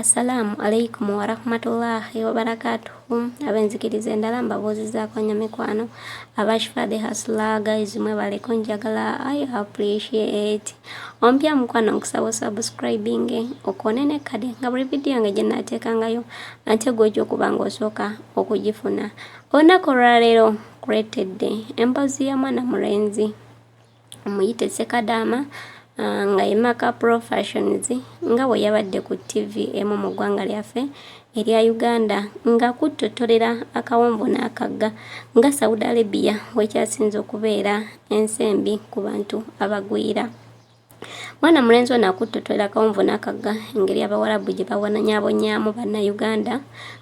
Assalaamu alaikumu warahmatullaahi wabarakaatuhu ab'enzikiriza endala mbabuuzizaako nnyo mikwano aba Shifah the Hustler guys mwebale kunjagala I appreciate ompya mukwano nkusaba osubscribing okone ne kade nga buli vidiyo yange gye naateekangayo ate gw'ojja okuba ng'osooka okugifuna olunaku olwaleero kuleetedde emboozi ya mwana mulenzi omuyite Ssekadaama ah, nga ye Maka Pro Fashions nga bwe yabadde ku TV emu mu ggwanga lyaffe erya Uganda nga kuttottorera akawonvu n'akagga nga Saudi Arabia wekyasinze okubeera ensi embi ku bantu abagwira. Mwana mulenzi ono akuttottolela akawonvu n'akagga engeri Abawarabu gye babonyaabonyaamu Bannayuganda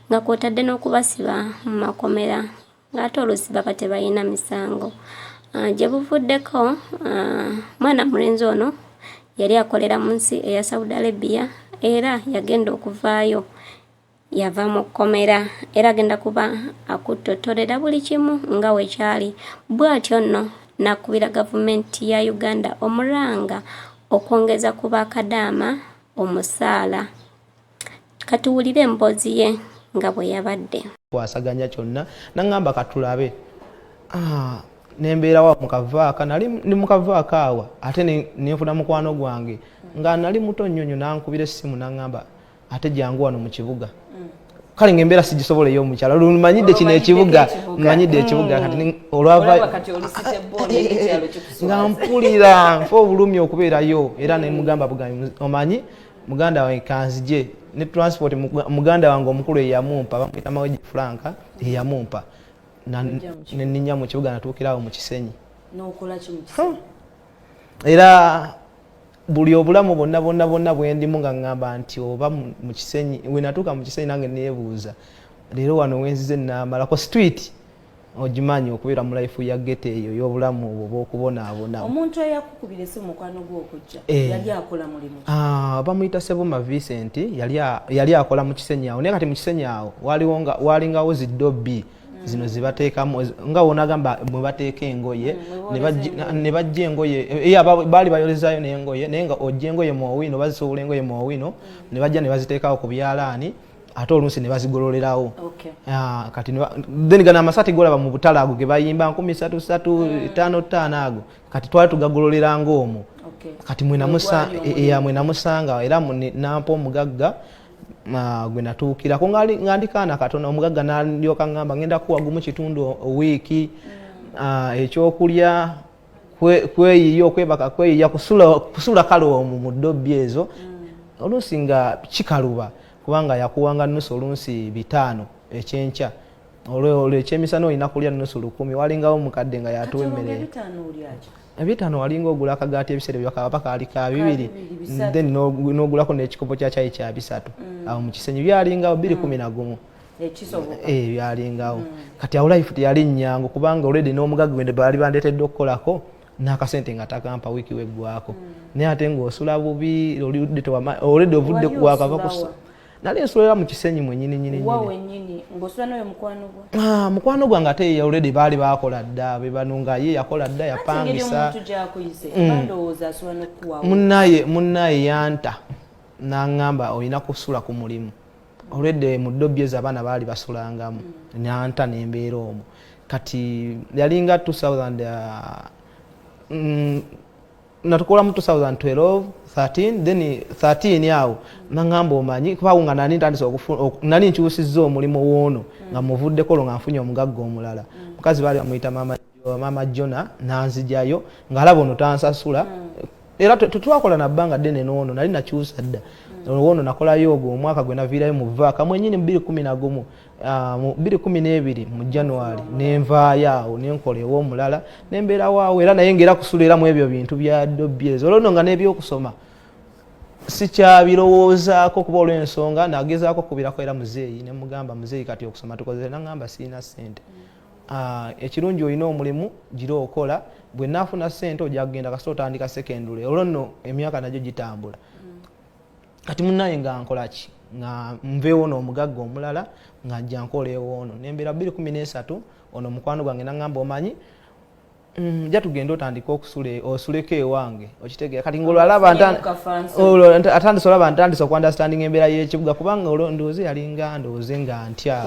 nga kwotadde n'okubasiba mu makomera ng'ate oluusi baba tebalina misango ah, gye buvuddeko ah, mwana mulenzi ono yali akolera mu nsi eya saudi arabia era yagenda okuvaayo yava mu kkomera era agenda kuba akuttottorera buli kimu nga wekyali bw'atyo nno nakubira gavumenti ya uganda omuranga okwongeza ku bakadaama omusaala Katuwulire emboozi ye nga bwe yabadde. Kwasaganya kyonna nangamba katulabe ah, nembeerawa mukavaaka nali ndi mukavaaka awa ate nenfuna mukwano gwange nga nali muto nnyo nnyo nankubira essimu nangamba ate jangu wano mu kibuga mm. kale nga embeera sigisobola ey'omukyala lumanyidde kino ekibuga manyidde ekibuga mm. kati olwava nga mpulira nfa obulumi okubeerayo era nemugamba bugambi omanyi muganda wange kanzije ne transport muganda wange omukulu eyamumpa bamuyita maweji franka eyamumpa neninya mu kibuga natuukirawo mu kisenyi era buli obulamu bonna bonna bonna bwendimu nga ŋŋamba nti oba mu kisenyi wenatuuka mu kisenyi nange neebuuza leero wano wenzize namalako street ogimanyi okubeera mu life ya gete eyo ey'obulamu obwo bw'okubonaabona omuntu eyakukubira esi mukwano gwe okujja eh. yali akola mulimu ah, bamuyita sebuma vincent yali akola mu kisenyi awo naye kati mu kisenyi awo walingawo ziddobi hmm. zino zibateekamu nga wonagamba mwe bateeka engoye hmm, ne bajja engoye eh, eh, baali bayolezayo n'engoye naye nga ojja engoye mu owino bazisobola engoye mu owino hmm. ne bajja ne baziteekawo ku byalaani ate oluusi ne bazigololerawo okay. Ah, kati then gano amasati golaba mu butale ago ge bayimba nkumi satu satu mm. etaano ttaano ago kati twali tugagololera ngaomwo okay. kati mwenamusanga era nampa omugagga ah, gwe natuukirako nga ndi kaana katono omugagga nalyoka ngamba ngenda kuwa gumu kitundu owiiki mm. ah, ekyokulya kweyiya okwebaka kweyiya kusula kale omu mu ddobbi ezo mm. oluusi nga kikaluba kubanga yakuwanga nusu oluusi bitaano ekyenkya olwolwo ekyemisana olina kulya nusu lukumi walingawo mukadde nga yatuwa emmere ebitaano walinga ogula akagaati ebiseera byakaba kaali ka bibiri then n'ogulako n'ekikopo kya kyayi kya bisatu mm. awo mu kisenyi byalingawo biri mm. kumi na gumu eh, byalingawo mm. kati awo life teyali nyangu kubanga olredi n'omugagga wende baali bandeetedde okukolako n'akasente nga takampa wiiki weggwako mm. naye ate ng'osula bubi olredi ovudde wakava kusa nali nsulira mu kisenyi mwenyininyinimukwano gwange ate ye olredi baali bakola dda bebano nga ye yakola dda yapangisa mm. munaye yanta nangamba olina kusula ku mulimu olwedde mu ddobbi ezo abaana baali basulangamu nanta nembeera omu kati yalinga 2000 uh, mm, natukolamu 2012 13 then 13 awo nangamba omanyi kubawo nga nani ntandise nani nkyusizza omulimu woono nga muvuddeko olwo nga nfunye omugagga omulala mukazi baali bamuyita mama maama jona nanzijayo ngaalaba ono tansasula mm. era tetwakola nabbanga ddene noono nali nakyusa dda mm. woono nakolayo ogwo omwaka gwe naviirayo mu vaaka mwenyini mu biri kumi nagumu ah, mu biri kumi n'ebiri mu january nenvaayo awo nenkola ew'omulala nembeerawo awo era naye ngaera kusula era mu ebyo bintu bya dobyezi olwono nga n'ebyokusoma sikyabirowoozaako kuba olw'ensonga nagezaako okubirako era muzeeyi nemugamba muzeeyi kati okusoma tukozere nangamba sirina ssente mm. Ah, ekirungi olina omulimu gira okola gwe nafuna sente ojja kugenda kasi otandika secondary olwo nno emyaka nagyo gitambula mm. kati munaye nga nkolaki nga nveewo noomugagga omulala nga nja nkola ewoono nembeera bbiri kumi n'esatu ono mukwano gwange naŋamba omanyi Mm, ja tugenda otandika okusula osuleko ewange okitegera kati ngolwo alaba atandisa olaba ntandisa okuandastandinga embeera yekibuga kubanga olwo ndowooza yalinga ndowooze nga ntya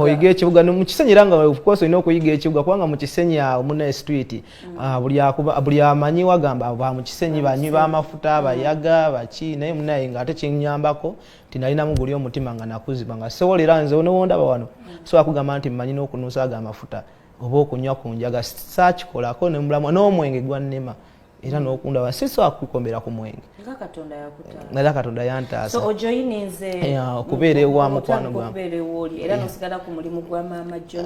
oyiga ekibuga mukisenyi era nga ofcourse olina okuyiga ekibuga kubanga mukisenyi awo muna street mm. ah, buli amanyi wagamba ba mukisenyi banywi bamafuta bayaga baki naye munaye nga ate kinyambako nti nalinamu guli omutima nga nakuziba nga sewolera nze onowondaba wano so akugamba nti mmanyi n'okunuusa ago amafuta oba okunywa ku njaga saakikolako ne mulamu n'omwenge gwannema era nokundaba si sobola kukukombera ku mwenge era katonda yantaasa okubeera ewa mukwano gwange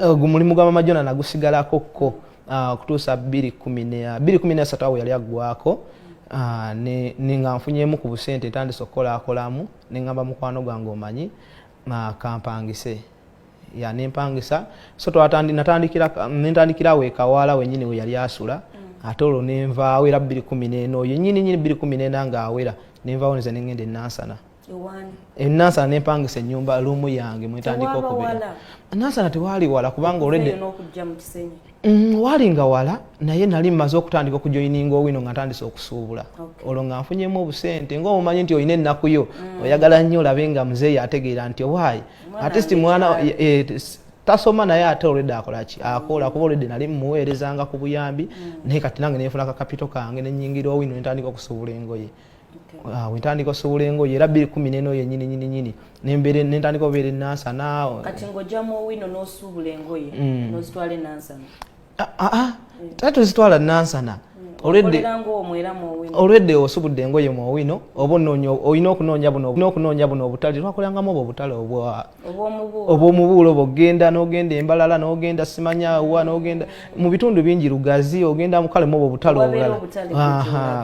eh, omulimu gwa maama jona nagusigalako kko ah, okutuusa bbiri kumi nesatu awo yali aggwako ah, nga nfunyemu ku busente ntandise okukolakolamu nengamba mukwano gwange omanyi ah, kampangise ya nempangisa so twatandikirawo ekawaala wenyini weyali asula mm. ate olwo nenvaawo era bbiri kumi nena oyo nyini nyini bbiri kumi nena ngaawera nenvaawo nze nengenda enansana enansana eh, nempangisa enyumba lumu yange mwetandika okubeera nansana tewaali wala kubanga olwedde mm, waali nga wala naye nali mmaze okutandika okujoyininga owino nga ntandise okusuubula olwo nga nfunyemu obusente ngaomumanyi nti olina ennaku yo mm. oyagala nnyo olabe nga muzeeyi ategeera nti owaayi atist mwana eh, tasoma naye ate olwedde akolaki akola kuba olwedde nali mumuweerezanga ku buyambi mm. naye kati nange nenfuna kakapito kange nenyingira owino nentandika okusuubula engoye Ah, wentandika osobola engoye era biri kumi neno yenyini nyini nyini nembere nentandika obeera enansa naawe eh. kati ng'ojamu owino n'osuubula engoye mm. n'ozitwala enansana aa ah, ah, mm. tata tozitwala nansana mm. olwedde osubudde engoye mu owino oba olina okunoonya buno obunokunoonya buno obutale twakolangamu obo obutale obwa obwomubuulo obwo genda nogenda embalala nogenda simanyawa nogenda mu bitundu bingi lugazi ogenda mukale muobo obutale obulala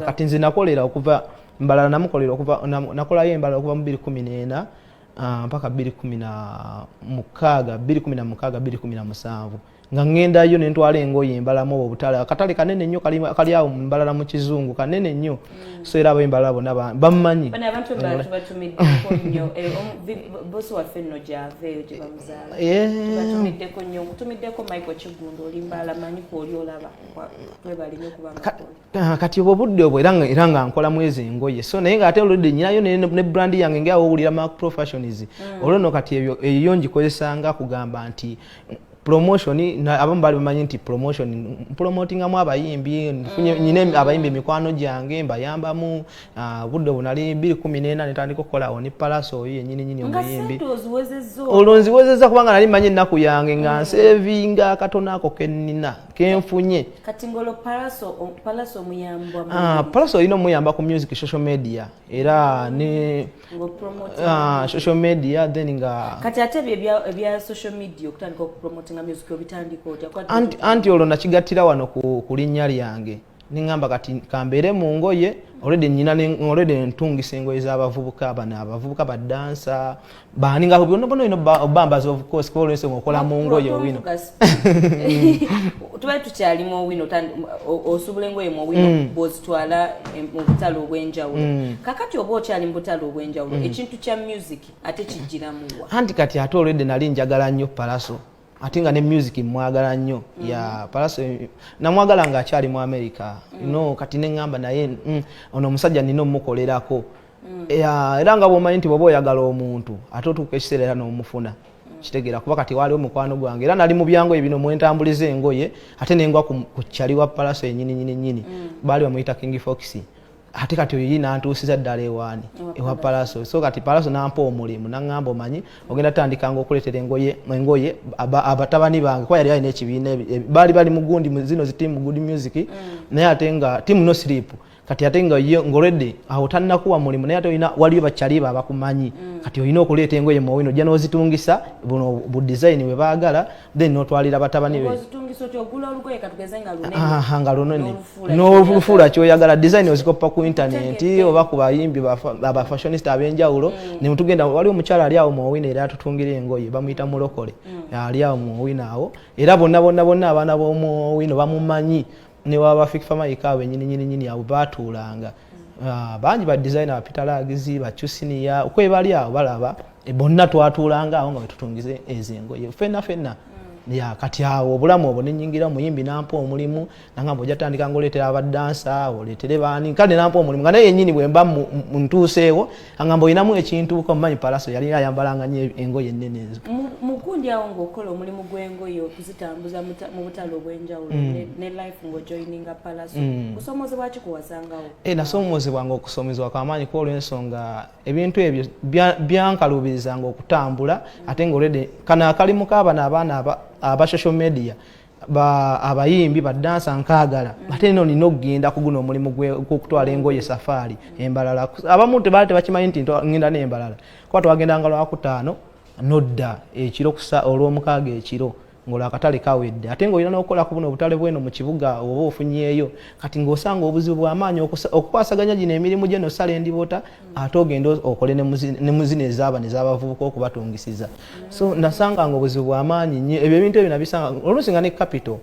kati nze nakolera okuva mbalala namukolera okuva nakolayo embalala okuva mu biri kumi neena ah, mpaka biri kumi na mukaaga biri kumi na mukaaga biri kumi na musanvu nga ŋŋendayo ne ntwala engoye embalamu obo obutale akatale kanene nnyo kali awo mbalala mu kizungu kanene nnyo mm. so era abo embalala bona bammanyi Ah, kati obwo budde obwo era era nga nkola mwezi engoye so naye nga ate oludde nyinayo ne brand yange nga awulira ma professionals mm. olwo no kati ebyo eyo ngikozesa nga kugamba nti promotion abamu bali bamanyi nti promotion promotingamu abayimbi mm. nyine abayimbi emikwano gyange mbayambamu ah, budde obwo nali biri kumi nena netandika okukolawo ne palaso oyo yenyini nyini omuyimbi olwo nziwezezza kubanga nali manyi ennaku yange nga mm. nsevinga akatono ako kenina kenfunye kati ngolo palaso palaso muyamba ah palaso olina omuyamba ku music social media era ne ah, social media then nga kati ate ebya ebya social media okutandika okupromotinga music obitandika otya anti olwo nakigattira wano ku, ku linnya lyange neŋamba kati kambeere mu ngoye olwedde nyina olwedde ntungisa engoye z'abavubuka bano abavubuka badansa baani nga byonabona ino obambazi ofcourse kuba olwese nga okola mu ngoye owino tubali tukyali mu owino osubula engoye mu owino mm. bwozitwala eh, mu butale obw'enjawulo mm. kakati oba okyali mu butale obw'enjawulo mm. ekintu kya music ate kijjiramuwa anti kati ate olwedde nali njagala nnyo palaso ate nga ne music mwagala nnyo mm. ya palaso namwagala nga akyali mu america mm. no kati neŋamba naye mm, ono omusajja nina omukolerako mm. era nga bwomanyi nti bwoba oyagala omuntu ate otuuka ekiseera era nomufuna mm. kitegeera kuba kati waaliwo mukwano gwange era nali mu byangoye bino mwentambuliza engoye ate nengwa ku kyali wa palaso enyininyininyini mm. baali bamuyita king foxi ate kati oyo yina ntuusiza ddala ewaani ewa palaso so kati palaso nampa omulimu naŋŋamba omanyi ogenda tandikanga okuleetera engoye engoye abatabani bange kuba yali alina ekibiina baali bali mugundi zino zitiimu good music mm. naye ate nga tiimu no sleep kati ate nga ye ngoredi awo tannakuwa mulimu naye ate olina waliyo bakyaliba abakumanyi mm. kati olina okuleeta engoye muwino ojja n'ozitungisa buno bu dizayini bwe baagala then notwalira batabani be nga lunene n'olufuula kyoyagala design ozikoppa ku internet oba ku bayimbi abafashionista ab'enjawulo mm. ne mutugenda wali omukyala ali awo muowina era atutungira engoye bamuyita mulokole mm. ali awo muowina awo era bonna bonna bonna abaana b'omuowino bamumanyi newaba fik famaika awo enyininyininyini awo batuulanga Ah, bangi ba designer bapita lagizi bacusiniya okwebali awo balaba e, bonna twatuulanga awo nga wetutungize ezo engoye fenna fenna mm. ya kati awo obulamu obwo nenyingira muyimbi nampa omulimu nangamba ojatandika ngaoleetera abadansa oleetere baani kale nampa omulimu nga naye yenyini bwemba ntuuseewo angamba olinamu ekintu komanyi palaso yali ayambalanga nyo engoye ennene ezo mukundi awo ngaokola omulimu gw'engoye okuzitambuza mu butale obw'enjawulo mm. ne life ngaojoininga palaso mm. kusomozebwa ki kuwasangawo eh, nasoomozebwanga okusomezebwa kwamaanyi kuba olw'ensonga ebintu ebyo byankaluubirizanga okutambula ate nga olwedde kano akalimu kaabana abaana aba social media ba abayimbi ba dansa nkagala mm. ate nino nina okugenda kuguno omulimu gwokutwala engoye safaari embalala abamu tebaali tebakimanyi nti ngenda nembalala kuba twagendanga lwakutaano nodda ekiro kusa olwomukaaga ekiro ngolo akatale kawedde ate ngaolina nokukola ku buno obutale bweno mu kibuga oba ofunyeeyo kati ngaosanga obuzibu bwamaanyi okukwasaganya gino emirimu gyenosala endibota ate ogende okole ne muzina ezaaba nezabavubuka okubatungisiza so nasanga nga obuzibu bwamaanyi nyo ebyo ebintu ebyo nabisanga oluusi nga ne capital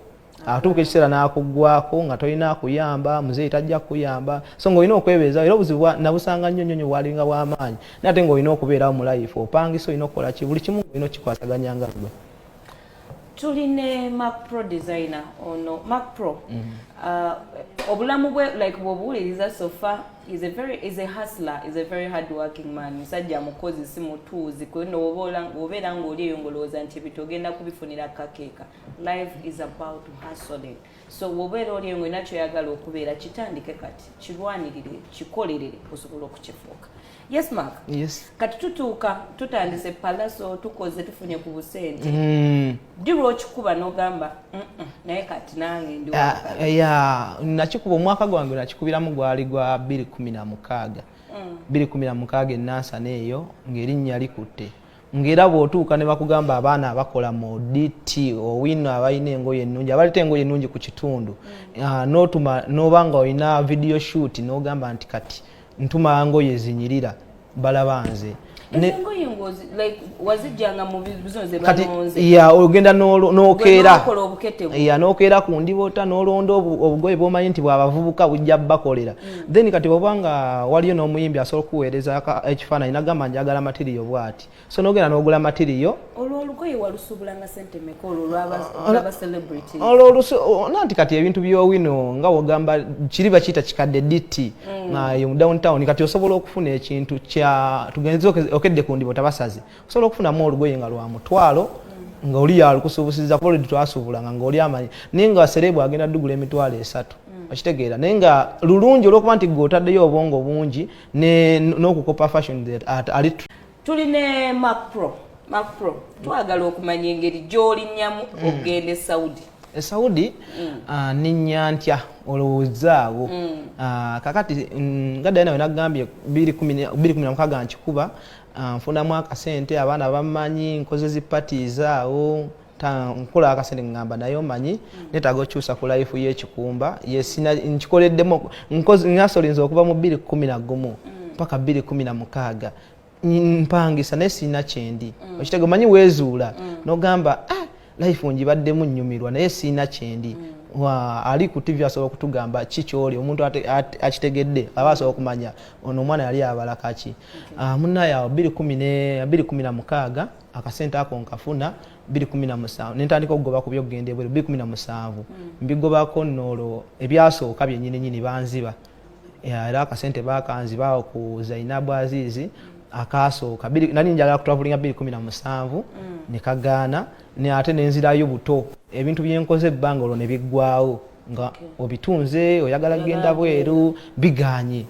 atuuka ekiseera n'akuggwako nga tolina akuyamba muzeeyi tajja kukuyamba so ng'olina okwebeeza era obuzibu nabusanga nnyo nnyo nyo bwalinga bw'amaanyi naye ate ng'olina okubeerawo mu life opangisa olina okukola ki buli kimu olina okukikwasaganya nga gwe tuli ne mac pro designer ono mac pro mm-hmm. uh, obulamu bwe like bwobuwuliriza sofa is a very is a hustler is a very hard working man musajja mukozi si mutuuzi kweno obeera ng'oli eyo ng'olowooza nti ebintu ogenda kubifunira kakeeka life is about hustling so wobeera oli eyo ng'olina kyoyagala okubeera kitandike kati kirwanirire kikolerere osobola okukifuuka yes mark yes. kati tutuuka tutandise palaso tukoze tufunye ku busente mm. dirwa okikuba n'ogamba naye kati nange ndi ah, ya nakikuba omwaka gwange nakikubiramu gwali gwa 216 216 mm. enansana eyo ng'erinnya likutte ng'era bw'otuuka ne bakugamba abaana abakola mu dt owino abalina engoye ennungi abaleta engoye ennungi ku kitundu mm. ah, n'otuma n'oba nga olina video shoot n'ogamba nti kati ntuma ngoye zinyirira balaba nze ogenda nokeera ku ndibota nolonda obugoye bwomanyi nti bwabavubuka bujja bakolera mm. then kati oba nga waliyo n'omuyimbi asobola okukuweereza ekifaananyi nagamba njagala matiriyo bwati so nogenda nogula matiriyo nanti kati ebintu byowino nga wogamba kiri bakiyita kikadde ditti mm. ah, mu downtown kati osobola okufuna ekintu kya tugenze okedde ku ndibo tabasazi osobola okufunamu olugoye nga lwa mutwalo mm. nga oli yalukusubusiza kuba olidi twasuubulanga nga oli amanyi naye nga serebu agenda dugula emitwalo esatu okitegeera naye nga lulungi olwokuba nti gwe otaddeyo obwongo bungi n'okukopa fashion ali tuli ne Mac Pro Mac Pro twagala okumanya engeri gy'olinnyamu mm. okugenda e Saudi e Saudi mm. ah, ninnya ntya olowoozaawo mm. ah, kakati nga dayina we nagambye bbiri kumi na mukaaga nkikuba ah, nfunamu akasente abaana bamanyi nkoze zi parties awo nkola akasente ngamba naye omanyi mm. netaga okyusa ku life yekikumba yesina nkikoleddemu nasolinza okuva mu bbiri kumi na gumu mm. paka bbiri kumi na mukaaga mpangisa naye sirina kyendi mm. okitega omanyi wezuula nogamba ah, life ngibaddemu nnyumirwa naye sirina kyendi ali ku tv asobola okutugamba ki kyoli omuntu akitegedde aba asobola okumanya ono omwana yali abalakaki ah, munaye awo bbiri kumi na mukaaga akasente ako nkafuna biri kumi na musanvu nentandika okugoba ku byokugenda ebweru biri kumi na musanvu mm. mbigobako noolwo ebyasooka byenyini nyini banziba era akasente bakanziba ku zainabu aziizi akaasooka nali njagala kutwavulinga biri kumi na musanvu mm. nekagaana ne ate nenzirayo buto ebintu byenkoze ebbanga olwo nebiggwawo nga obitunze oyagala genda bweru biganye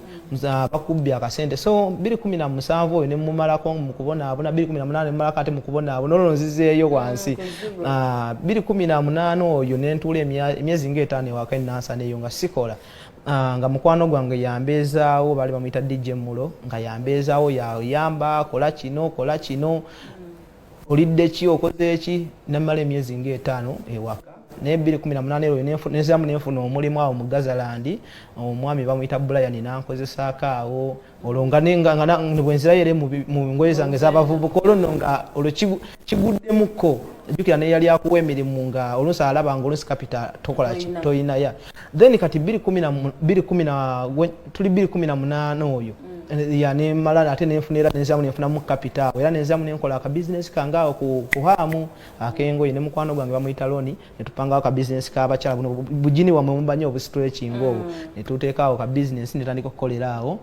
bakubbye akasente so 217 oyo nemumalako mukubonaabona 218 nemumalako ate mukubonaabona olwo nzizeeyo ah, wansi 218 ah, oyo nentuula emyezi ngaetaano ewaka enansana eyo nga sikola ah, nga mukwano gwange yambeezaawo baali bamuyita dj mulo nga yambeezaawo yayamba kola kino kola kino olidde ki okoze ki namala emyezi nga etaano ewaka naye bbiri kumi na munaana eroyo nezamu nenfuna omulimu awo mu gazalandi omwami bamuyita bulayani nankozesaako awo olwo nga bwenzirayo ere mu ngoye zange zabavubuka olwo no nga olwo kiguddemukko jukira neyali akuwa emirimu nga olusi alaba nga olusi kapita tokolaki toyinaya then kati biri kumi na biri kumi na tuli biri kumi na munana oyo mm. ya ne malala ate ne nfunira ne nzamu ne nfuna mu capital era ne nzamu ne nkola ka business kanga ku kuhamu akengo ine mukwano gwange bamuyita loni ne tupanga ka business ka bachala buno bujini wa mumbanyo obu stretching mm. obu ne tuteka ka business ne tandiko kolera awo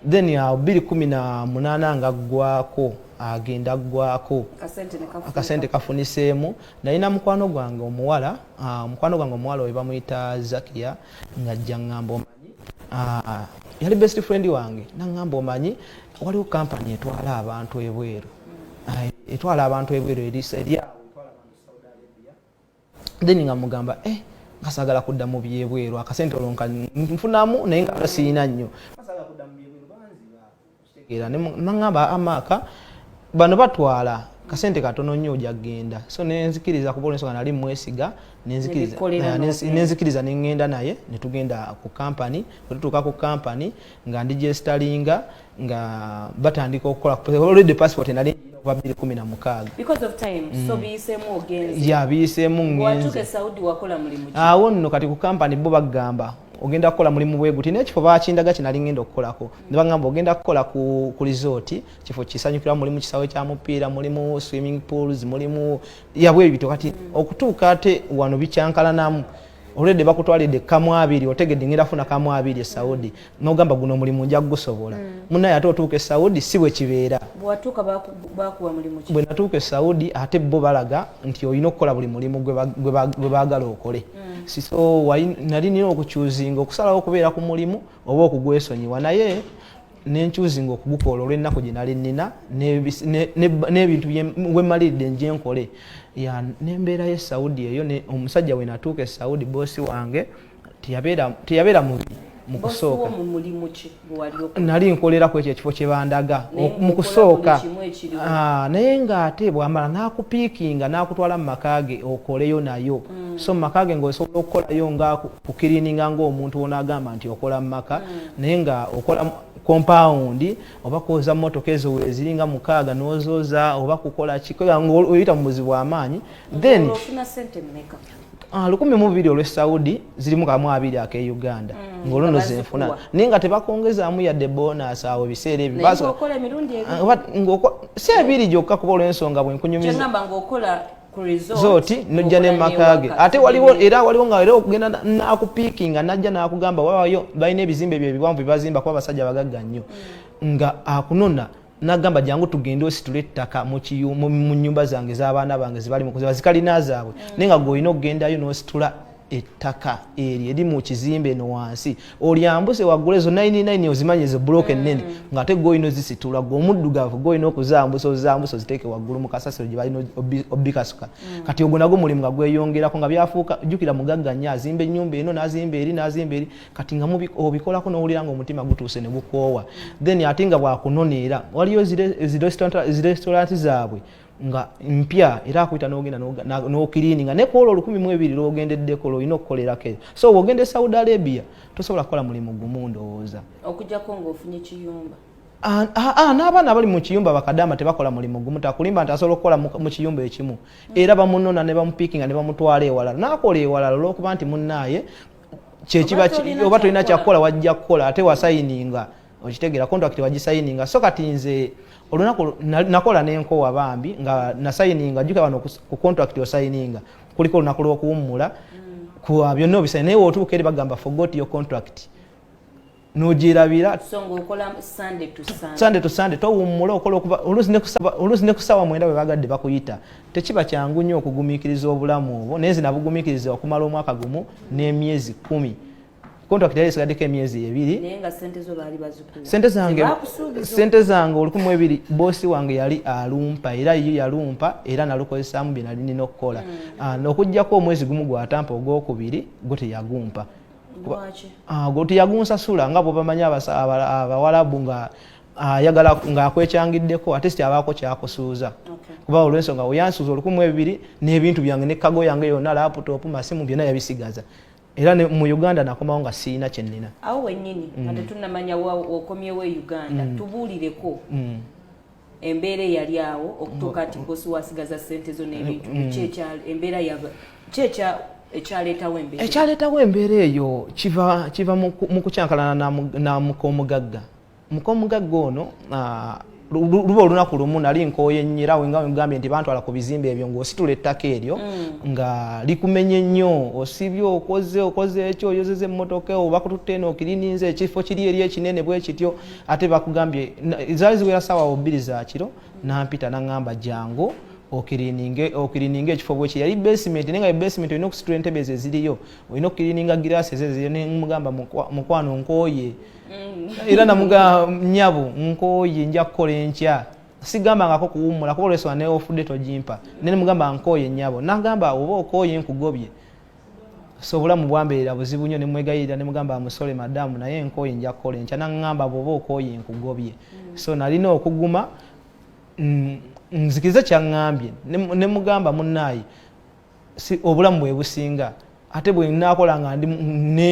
then ya biri kumi na munana nga gwako agenda gwako akasente kafuniseemu naye na mukwano gwange omuwala Ah, mukwano gwange omuwala oyo bamuyita zakia ngajja ngamba omanyi ah, yali best friend wange nangamba omanyi waliwo kampany etwala abantu ebweru ah, etwala abantu ebweru eryawo then nga mugamba eh ngasagala kudda mu byebweru akasente olwo nfunamu naye nga siyina nnyo era nangamba amaaka bano batwala kasente katono nnyo oja kugenda so nenzikiriza kuba olwensonga nali mwesiga nenzikiriza nengenda naye netugenda ku kampany wetutuuka ku kampany nga ndi gyesitalinga nga batandika okukolaolredy passport nali okuva biri kumi na mukaaga yabiyiseemu mm. ngenzeawo nno kati ku kampany bo bagamba ogenda kukola mulimu bweguti nekifo bakindaga kyenali ngenda okukolako nebagamba ogenda kukola ku, ku resort kifo kisanyukira mulimu kisawe kya mupiira mulimu swimming pools mulimu yabwe ebito kati okutuuka ate wano bikyankalanamu olwedde bakutwalidde kamu abiri otegedde ngenda funa kamu abiri esaudi nogamba guno omulimu nja kugusobola mm. munaye ate otuuka esaudi si bwe kibeera bwe natuuka esaudi ate bo balaga nti olina okukola buli mulimu gwe baagala okole mm. so nali nina okukyuzinga okusalawo okubeera ku mulimu mm. oba okugwesonyiwa naye nenkyuzinga okugukoola olwennaku gye nali nnina n'ebintu wemaliridde nje nkole nembeera ye saudi eyo omusajja we natuuka e saudi boosi wange teyabeera mubi mu kusooka nali nkolera ku ekyo ekifo kye bandaga mu kusooka ah, naye ng'ate bwamala n'akupiikinga n'akutwala mu maka ge okoleyo nayo mm. so mu maka ge ng'osobola okukolayo nga kukirininga ngaomuntu ono agamba nti okola mumaka mm. naye nga okola kompawundi oba kwoza motoka ezo weziringa mukaaga nozoza oba kukola kioyita mu buzibu amaanyi then ah, lukumi mubiri olwe saudi zirimu kamu abiri ake uganda mm, ngaoluno zenfuna naye nga tebakongezamu yadde bonus awo ebiseera ebyo ah, si ebiri gyokka kuba olwensonga bwenkunyumiza zooti nojja ne maka ge ate waliwo era waliwo nga era okugenda nakupiikinga najja nakugamba wawayo balina ebizimbe byo ebiwanvu byebazimba kuba abasajja abagagga nnyo mm. nga akunona nagamba jangu tugende ositule ettaka mu nyumba zange z'abaana bange zibali mukuziba zikalina zaabwe mm. naye nga gweolina okugendayo nositula ettaka eryo eri mu kizimbe eno wansi olyambuse waggula ezo 99 ozimanyi ezo buloka ennene mm. nga ate golina ozisitula gwe omuddugavu golina okuzambusa ozambusa oziteeke waggulu mu kasasiro gye balina obikasuka mm. kati ogwo nagwo mulimu nga gweyongerako nga byafuuka jjukira mugagga nnyo azimba ennyumba eno n'azimba eri n'azimba eri kati nga obikolako n'owulira nga omutima gutuuse ne gukoowa then ate nga bwakunona era waliyo zi restaurant zaabwe nga mpya era akuyita nogenda nokiriininga naye kuolwo olukumi mu ebiri lwogendeddeko lwolina okukolerako eyo so wogenda e saudi arabia tosobola kukola mulimu gumu ndowooza okujjako ngaofunye kiyumba ah, ah, ah, n'abaana abali mu kiyumba bakadaama tebakola mulimu gumu takulimba nti asobola okukola mu kiyumba ekimu mm. era bamunona ne bamupiikinga ne bamutwala ewalala n'akola ewalala olwokuba nti munnaaye kyekiba oba tolina kyakukola wajja kukola ate wasayininga okitegera contract wagisayininga so kati nze olunaku nakola nenkowa bambi nga nasayininga juka wano ku contract osayininga kuliko olunaku lwokuwummula mm. ku ah, byonna obisai naye wotuuka eri bagamba forgot your contract nogirabira sande to sande towummula okola okuba oluusi ne kusaawa mwenda bwe bagadde bakuyita tekiba kyangu nnyo okugumikiriza obulamu obwo naye nze nabugumikiriza okumala omwaka gumu n'emyezi kumi contract yali esigaddeko emyezi ebiri sente zange sente zange olukumi ebiri boosi wange yali alumpa era yo yalumpa era nalukozesaamu bye nali nina okukola hmm. ah, nokuggyako omwezi gumu gwatampa ogwokubiri gwe teyagumpa ah, gwe teyagunsasula nga bwebamanyi abawalabu nga ayagala ah, ngaakwekyangiddeko atist abaako kyakusuuza kuba olwensonga weyansuuza olukumi ebiri n'ebintu byange nekago yange yonna laputopu masimu byonna yabisigaza era ne mu uganda nakomawo nga sirina kyenina awo wenyini mm. ate tunamanya wakomyewo e uganda mm. tubuulireko mm. embeera eyali awo okutuuka nti bosi wasigaza sente zo n'ebintu mm. kyekyal embeera ya kyekya ekyaleetawo embeera ekyaleetawo embeera eyo kiva kiva mu kukyankalana na muka omugagga mukomugagga ono luba olunaku lumu nali nkooye nnyo era wenga wegambye nti bantwala ku bizimba ebyo ng'ositula ettaka eryo mm. nga likumenye nnyo osibye okoze okoze ekyo oyozeza emmotoka oba kututte eno okirininza ekifo kiri eri ekinene bwe kityo ate bakugambye zaali ziwera saawa obbiri zakiro nampita naŋŋamba jangu okirininga ekifo bweki yali basement naye nga basement olina okusitula entebe ezo eziriyo olina okukirininga girasi ezo eziriyo nemugamba mukwano nkooye mm. era namuga nyabo nkoye nja kukola enkya sigambangako kuwummula kuba olwesonga ne ofudde togimpa naye nemugamba nkoye nyabo nagamba oba okoye nkugobye so obulamu bwambeerera buzibu nnyo nemwegayirira nemugamba amusole madamu naye nkoye nja kukola enkya naŋamba bwoba okoye nkugobye mm. so nalina okuguma mm, nzikize kyaŋambye nemugamba munaayi si obulamu bwe businga ate bwe nakola nga ndi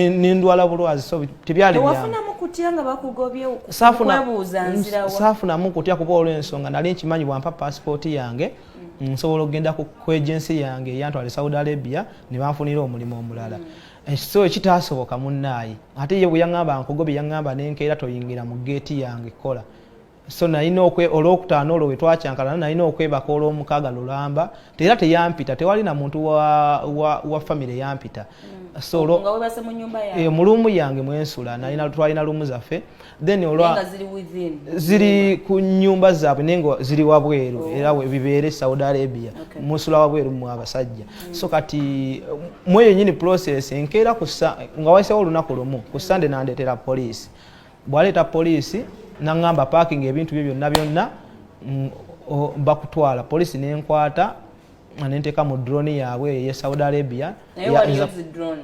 nendwala bulwazi so tebyali byawafunamu kutya nga bakugobye kwebuuza nzirawa saafunamu kutya kuba olw'ensonga nali nkimanyi bwampa paasipooti yange mm. nsobola okugenda ku ejensi yange eyantwala e saudi arabia ne banfunira omulimu omulala mm. eh, so ekitaasoboka munnaayi ate ye bwe yaŋŋamba nkugobye yaŋŋamba nenkeera toyingira mu geeti yange kola so nalina olwokutaano olwo wetwakyankalana nalina okwebaka olwomukaaga lulamba era teyampita tewali na muntu wa, wa, wa famire yampita mm. so olwo e, mu luumu yange mwensula nalina twalina luumu zaffe then olwa ziri ku nyumba zaabwe naye nga ziri wabweru oh. era bibeere saudi arabia okay. musula wabweru mu abasajja mm. so kati mweyo nyini process enkeera nga waisewo olunaku lumu ku sande nandetera poliisi bwaleeta poliisi naŋŋamba paakinga ebintu bye byonna byonna mm, bakutwala poliisi nenkwata nenteeka mu drone yaabwe eye saudi arabia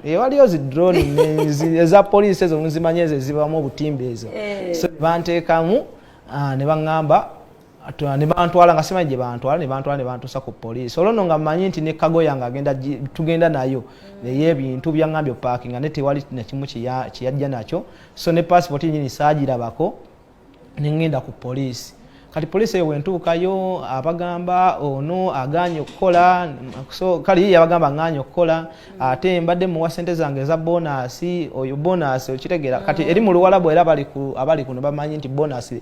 ewaliyo zi drone eza poliisi ezo nzimanyi ezo ezibamu obutimba ezo eh. so banteekamu ah, ne baŋŋamba nebantwala nga simanyi gyebantwala nebantwala nebantusa ku poliisi olwo no nga manyi nti ne kago yange agenda tugenda nayo naye ebintu byaŋambye opakinga ne tewali nakimu kyeyajja nakyo so ne pasipoti nyini saagirabako nengenda ku poliisi kati poliisi eyo wentuukayo abagamba ono aganye okukola so kale yiye abagamba nganye okukola ate mbadde muwa sente zange eza bonasi oyo bonasi okitegeera kati eri mu luwalabu era abali kuno bamanyi nti bonasi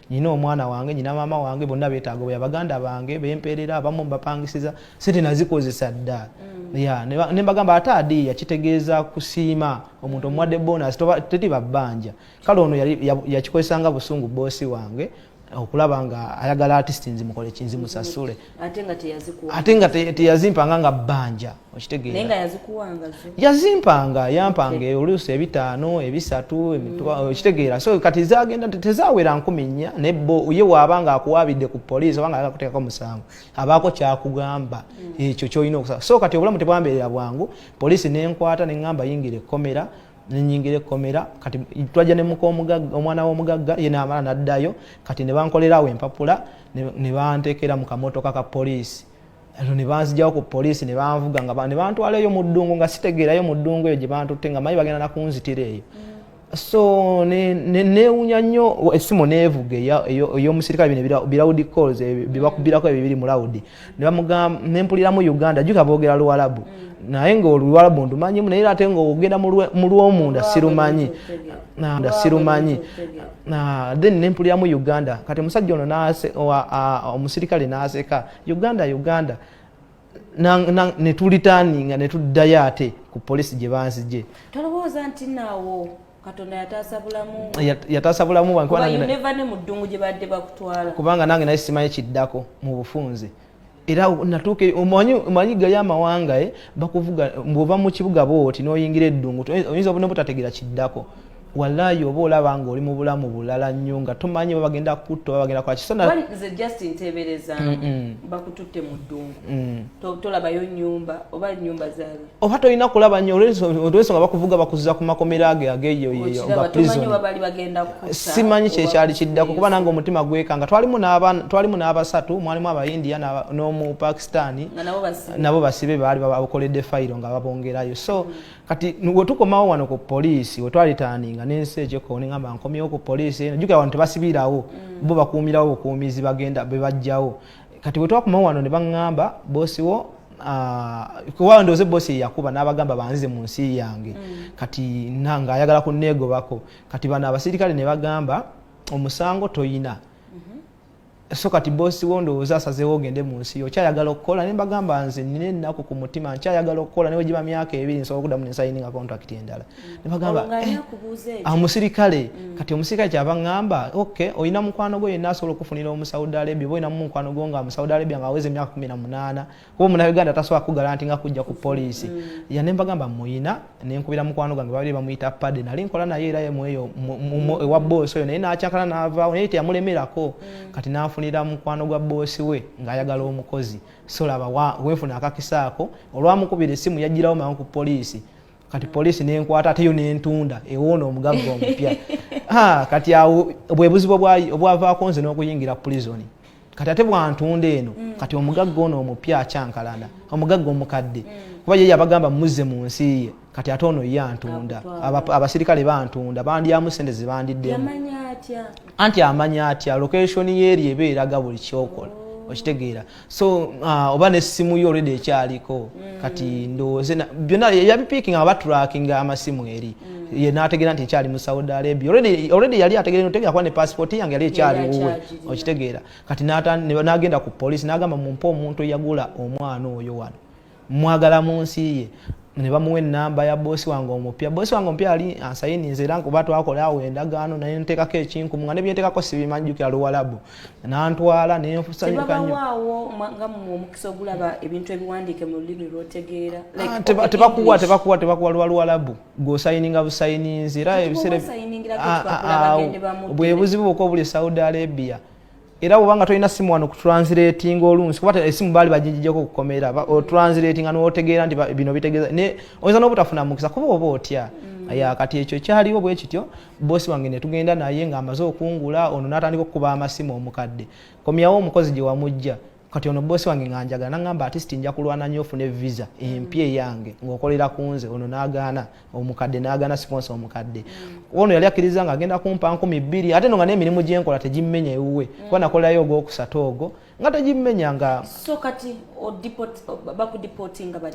nina omwana wange nyina maama wange bonna betaaga obuya baganda bange bempeerera abamu mbapangisiza sente nazikozesa dda mm. ya ne mbagamba ate adiiya kitegeeza kusiima omuntu omuwadde bonus teti babbanja kale ono yakikozesanga busungu boosi wange okulaba nga ayagala artist nzimukoleki nzimusasule ate nga teyazikuwa ate nga teyazimpanga nga bbanja okitegeera nga yazikuwanga yazimpanga yampanga e oluusi ebitaano ebisatu mm. okitegeera so kati zagenda tezawera nkumi nnya naye bo ye waaba nga akuwaabidde ku poliisi oba nga agakuteekako musango abaako kyakugamba mm. ekyo kyolina okusala so kati obulamu tebwambeerera bwangu poliisi nenkwata neŋamba yingira ekkomera nenyingira ekkomera kati twajja ne muka omwana w'omugagga ye naamala naddayo kati ne bankolerawo empapula ne banteekera mu kamotoka ka poliisi ero ne banzijawo ku poliisi ne banvuga nga ne bantwala eyo mu ddungu nga sitegeerayo mu ddungu eyo gye bantutte nga manyi bagenda nakunzitira eyo so neewunya nnyo essimu neevuga ey'omusirikale bino birawudi calls eh, bibakubirako ebyo biri mu lawudi ne mpuliramu uganda juka boogera luwalabu mm. naye nga oluwalabu ndumanyimu naye ate nga ogenda mu lwomunda sirumanyi nda sirumanyi then ne mpuliramu uganda kati omusajja ono omusirikale n'aseka uganda uganda ne tulitaninga ne tuddayo ate ku polisi gye banzigye tolowooza nti naawo katonda yataasa bulamu yataasa bulamu wange mu ddungu gye badde bakutwala kubanga nange naye simanyi kiddako mu bufunze era natuuka omanyi gayo amawanga eh, bakuvuga bwova mu kibuga booti noyingira eddungu oyinza obune butategera kiddako walayi oba olaba nga oli mu bulamu bulala nnyo nga tomanyi babagenda kutta babagenda kola kisanze just ntebereza bakututte mu ddungu mm. tolabayo nyumba oba nyumba zaali oba tolina kulaba nyo olwensonga bakuvuga bakuza ku makomera age ageyoyeyosimanyi kyekyali kiddako kuba nange omutima gwekanga twalimu n'abasatu mwalimu abaindia n'omu pakistani nabo basibe baali bakoledde fayiro nga babongerayo so kati wetukomawo wano ku poliisi wetwalitaninga nensi ekyekoonengamba nkomyewo ku poliisi eno jukira wano tebasibirawo mm. bo bakuumirawo bukuumizi bagenda bebajjawo mm. kati bwe twakuma wano ne baŋŋamba boosi wo Ah, kuba ndoze bosi yakuba n'abagamba banzize mu nsi yange mm. kati nanga ayagala kunneegobako kati bano abasirikale ne bagamba omusango toyina mm-hmm. so kati bosi wo ndowooza asazeewo ogende mu nsi yo okyayagala okukola ne mbagamba nze nina ennaku ku mutima nkyayagala okukola newe giba myaka ebiri nsobola okuddamu nensayininga contract endala nebagamba eh, omusirikale mm. kati omusirikale kyava ngamba ok olina mukwano gwo yenna asobola okufunira omusaudi arabia oba olinamu mukwano gwo nga musaudi arabia nga aweza emyaka kumi na munaana kuba omuna uganda tasobola kugala nti nga kujja ku poliisi mm. ya ne mbagamba muyina nenkubira mukwano gwange babiri bamuyita pade nali nkola naye era yemweyo ewa boosi oyo naye nakyakala naavaawo naye teyamulemerako mm. kati nafunira mukwano gwa boosi we ngaayagala omukozi solaba wefuna akakisaako olwamukubira esimu yajjirawo mangu ku poliisi kati poliisi nenkwata ateyo nentunda ewoona omugagga omupya kati awo bwebuzibu obwavaako nze n'okuyingira pulizoni kati ate bwantunda eno mm. kati omugagga ono omupya akyankalana omugagga omukadde mm. kuba ye yabagamba muzze mu nsi ye kati ate ono ye antunda abasirikale bantunda bandyamu sente zebandiddemu anti amanya atya lokeshoni yeeri eba eraga buli kyokola oh. okitegeera so uh, oba nesimu yo olredi ekyaliko mm. kati ndowooze byonna yabipiikinga nga baturakinga amasimu eri mm. ye nategeera nti ekyali mu saudi arabia olredi yali ategeera notegera kuba ne pasipoti yange yali ekyali wuwe okitegeera kati nagenda ku polisi nagamba mumpe omuntu eyagula omwana oyo wano mwagala mu nsi ye ne bamuwa enamba ya bosi wange omupya bosi wange omupya yali ansayininze era nkuba twakola awo endagaano naye nteekako ekinkumu nga nebyenteekako sibimanjukira luwalabu nantwala nentebakuwa tebakuwa tebakuwa luba luwalabu gwosayininga busayininzi era ebiseera bwebuzibu bwoka obuli saudi arabia era bwobanga tolina simu wano kutranslatinga olunsi kuba esimu baali bajijijako okukomera otranslatinga notegeera nti bino bitegeeza naye oyinza nobutafuna mukisa kuba oba otya mm. ya kati ekyo kyaliwo bwe kityo bosi wange netugenda naye nga amaze okungula ono natandika okukuba amasimu omukadde komyawo omukozi gye wamujja kati ono bosi wange nga njagala nangamba atisti nja kulwana nyo ofune visa empya eyange ngaokolera ku nze ono nagaana omukadde nagaana siponsa omukadde ono yali akkiriza nga agenda kumpa nkumi bbiri ate no nga n'emirimu gyenkola tegimmenya ewuwe mm. kuba nakolerayo ogwokusatu ogwo nga tegimmenya nga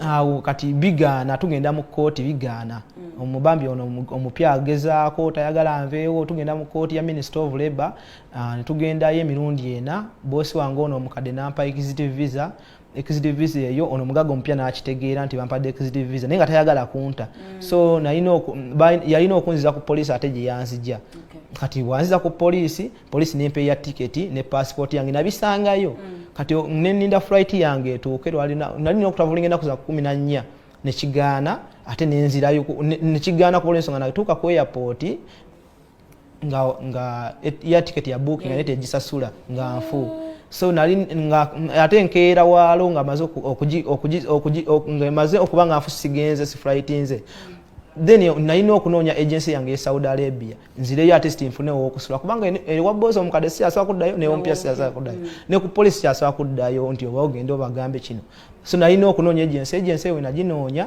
awo kati bigaana tugenda mu kkooti bigaana mm. omubambi ono omupya agezaako tayagala nveewo tugenda mu kkooti ya minister of labour Ah, netugendayo emirundi ena bosi wange ono omukadde nampa executive visa executive visa eyo ono omugaga omupya nakitegeera nti bampadde executive visa naye nga tayagala kunta mm. so yalina okunziza ku poliisi ate gye yanzija kati bwanziza ku poliisi poliisi nempa eya tiketi ne passport yange nabisangayo mm. kati neninda flight yange etuuke nalina okutavulinga enaku za kumi na nnya nekigaana ate nenzirayo nekigaana kuolwensonga natuuka ku airport nga nga ya ticket ya book nga nete gisasula nga nfu so nali nga ate nkeera waalo nga maze okuji okuji okuji nga maze okuba nga nfu sigenze si flight nze then nalina okunoonya agency yange e saudi arabia nzireyo ate sti nfune owokusula kubanga ewa bozi omukadde si asobola kuddayo newompya si asobola kuddayo mm. ne ku polisi kyasobola kuddayo nti oba ogende obagambe kino so nalina okunoonya agency agency ewe naginoonya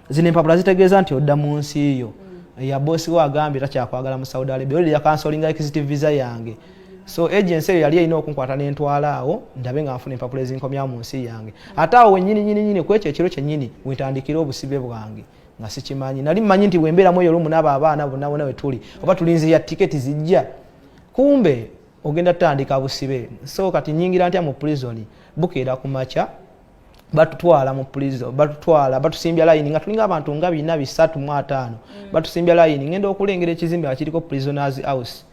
zino empapula zitegeeza nti odda mu nsi yo mm. ya bosi we agambye takyakwagala mu saudi arabia olira yakansolinga exit visa yange so agency eyo yali erina okunkwata nentwala awo ndabe nga nfuna empapula ezinkomya mu nsi yange ate awo wenyini nyini nyini kwekyo ekiro kyenyini wentandikira obusibe bwange nga sikimanyi nali mmanyi nti wembeeramu eyo lumu naabo abaana bonna bona wetuli oba tulinzira tiketi zijja kumbe ogenda tutandika busibe so kati nyingira ntya mu prison bukeera ku makya batutwala mu prison batutwala batusimbya layini nga tulinga abantu nga bina bisatu mu ataano mm. batusimbya layini ngenda okulengera ekizimbe nga kiriko prisoners house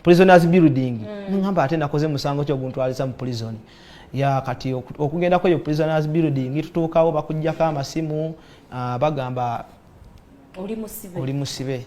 prisoners building mm. ngamba ate nakoze musango kyo guntwaliza mu prison ya kati okugenda kweyo prisoners building tutuukawo bakujjako amasimu uh, bagamba oli musibe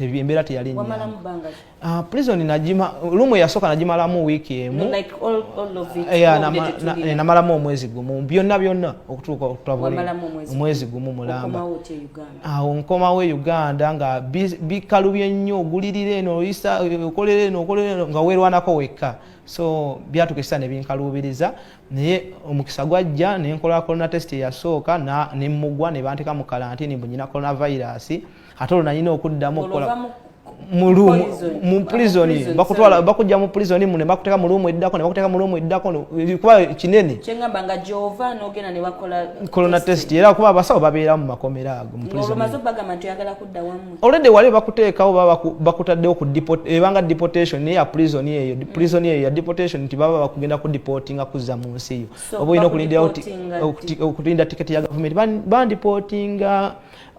embeera teyali ah, prison najima lumu yasooka nagimalamu wiiki emu namalamu omwezi gumu byonna byonna okutuuka omwezi gumu mulamba awo nkomawo e uganda nga bikalubye nnyo ogulirira eno oyisa okolera eno okolera eno nga weerwanako wekka so byatuka ekisa nebinkaluubiriza naye omukisa gwajja nenkola corona test eyasooka nemugwa nebanteka mu kalantini mbu nyina coronavirus ate olwo nalina okuddamu okukola mupulizoni bakutwala bakujja mupulizoni mune bakuteka mulumu eddako nebakuteka mulumu eddako kuba kinene kyengamba nga gyova nogenda nebakola corona test era kuba abasawo babeera mu makomera ago olwedde wali bakuteekawo baba bakutaddewo ku ebanga deportation naye ya pulizoni eyo mm. pulizoni eyo ya deportation nti baba bakugenda ku deportinga kuzza mu nsi eyo oba olina okulinda okulinda tiketi ya gavumenti bandiportinga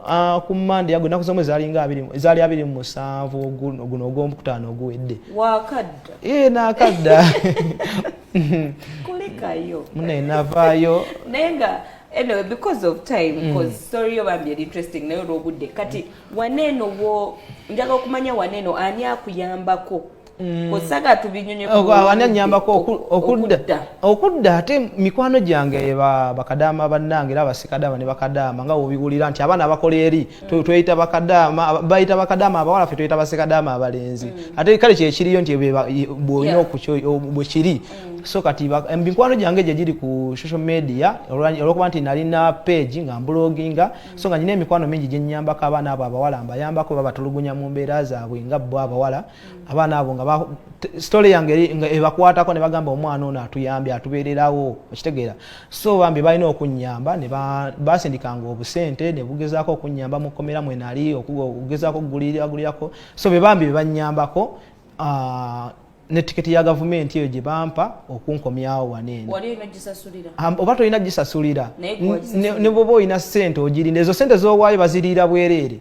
Ah, ku mande yago naku zomwe zali nga abiri zali abiri mu musanvu guno guno ogombu kutano oguwedde wakadda ee eh, nakadda kulikayo mune navayo naye nga anyway because of time mm. cause mm. story yo bambi eri interesting naye olwobudde kati waneeno wo njaga okumanya waneeno ani akuyambako Mm. osaga tubinyonyoani anyambako okudda okudda ate mikwano gyange bakadaama bannange era abasikadaama ne bakadaama nga wobiwulira nti abaana abakola eri mm. tweyita bakadaama bayita bakadaama abawala fe tweyita basikadaama abalenzi mm. ate kale kyekiriyo nti bwolina bwekiri so kati mikwano gyange gye giri ku social media olwokuba nti nalina page nga mbuloginga so nga nyina emikwano mingi gyenyambako abaana abo abawala mbayambako babatulugunya mu mbeera zaabwe nga bo abawala abaana abo nga story yange nga ebakwatako ne bagamba omwana ono atuyambye atubeererawo okitegeera so bambi balina okunyamba ne basindikanga obusente ne bugezaako okunyamba mu kkomera mwe nali okugezaako okuguliragulirako so be bambi bebanyambako ah, ne tiketi ya gavumenti eyo gye bampa okunkomyawo waneeno oba tolina gisasulira ne bwoba olina sente ogirinda ezo sente zowaayo baziriira bwereere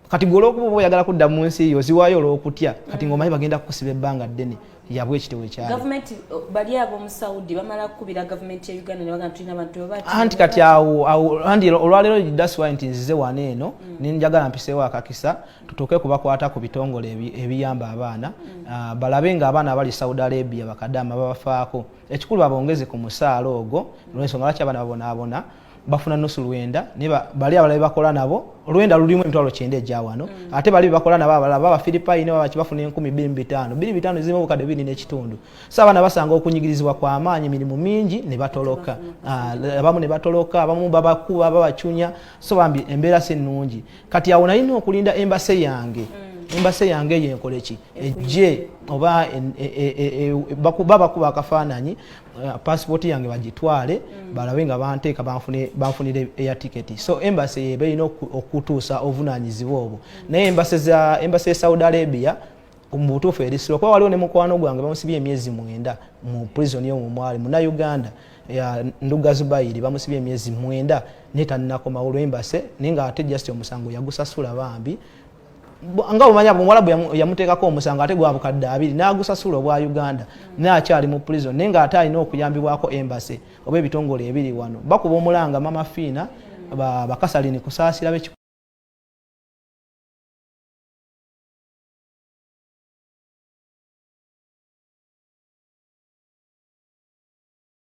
kati gwe olwokuba oba oyagala kudda mu nsi yo ziwaayo olwokutya kati mm. ngaomanyi bagenda kukusiba ebbanga ddene yabwe ekitewe kyagavumenti bali abomu saudi bamala kukubira gavumenti ya uganda nebagaa tulina abantu anti kati awo anti olwaleero daswa nti nzize wano eno mm. nenjagala mpiseewo akakisa tutuuke kubakwata ku bitongole ebiyamba abaana mm. ah, balabe nga abaana abali saudi arabia bakadama babafaako ekikulu babongeze ku musaala ogwo olwensonga lwaki abaana babonaabona bafuna nusu lwenda ne bali abalabe bakola nabo lwenda lulimu emitwalo kyenda egya wano mm. ate bali bebakola nabo abalala baba filipayi ne babaki bafuna enkumi biri mu bitaano biri bitaano zirimu obukadde biri n'ekitundu so abaana basanga okunyigirizibwa kwa maanyi mirimu mingi ne batoloka ah, abamu ne batoloka abamu babakuba babacunya so bambi embeera si nnungi kati awo nalina okulinda embase yange mm. embase yange eyo enkoleki ejje oba e, e, e, bakuba akafaananyi Eh, passport yange bagitwale mm. balabe nga banteeka banfunire eya tiketi so embassy yeba erina okutuusa obuvunaanyizibwa obwo mm. naye embassy za embassy ya saudi arabia mu butuufu erisiro kuba waliwo ne mukwano gwange bamusibye emyezi mwenda mu prison yomu mwali muna uganda nduga zubayiri bamusibye emyezi mwenda naye tannakomawo olwembase naye nga ate just omusango yagusasula bambi nga omanya omuwalabu yamuteekako omusango ate gwa bukadde abiri n'agusasula obwa uganda naye akyali mu prison naye ng'ate alina okuyambibwako embase oba ebitongole ebiri wano bakuba omulanga mama fiina bakasalini kusaasira beki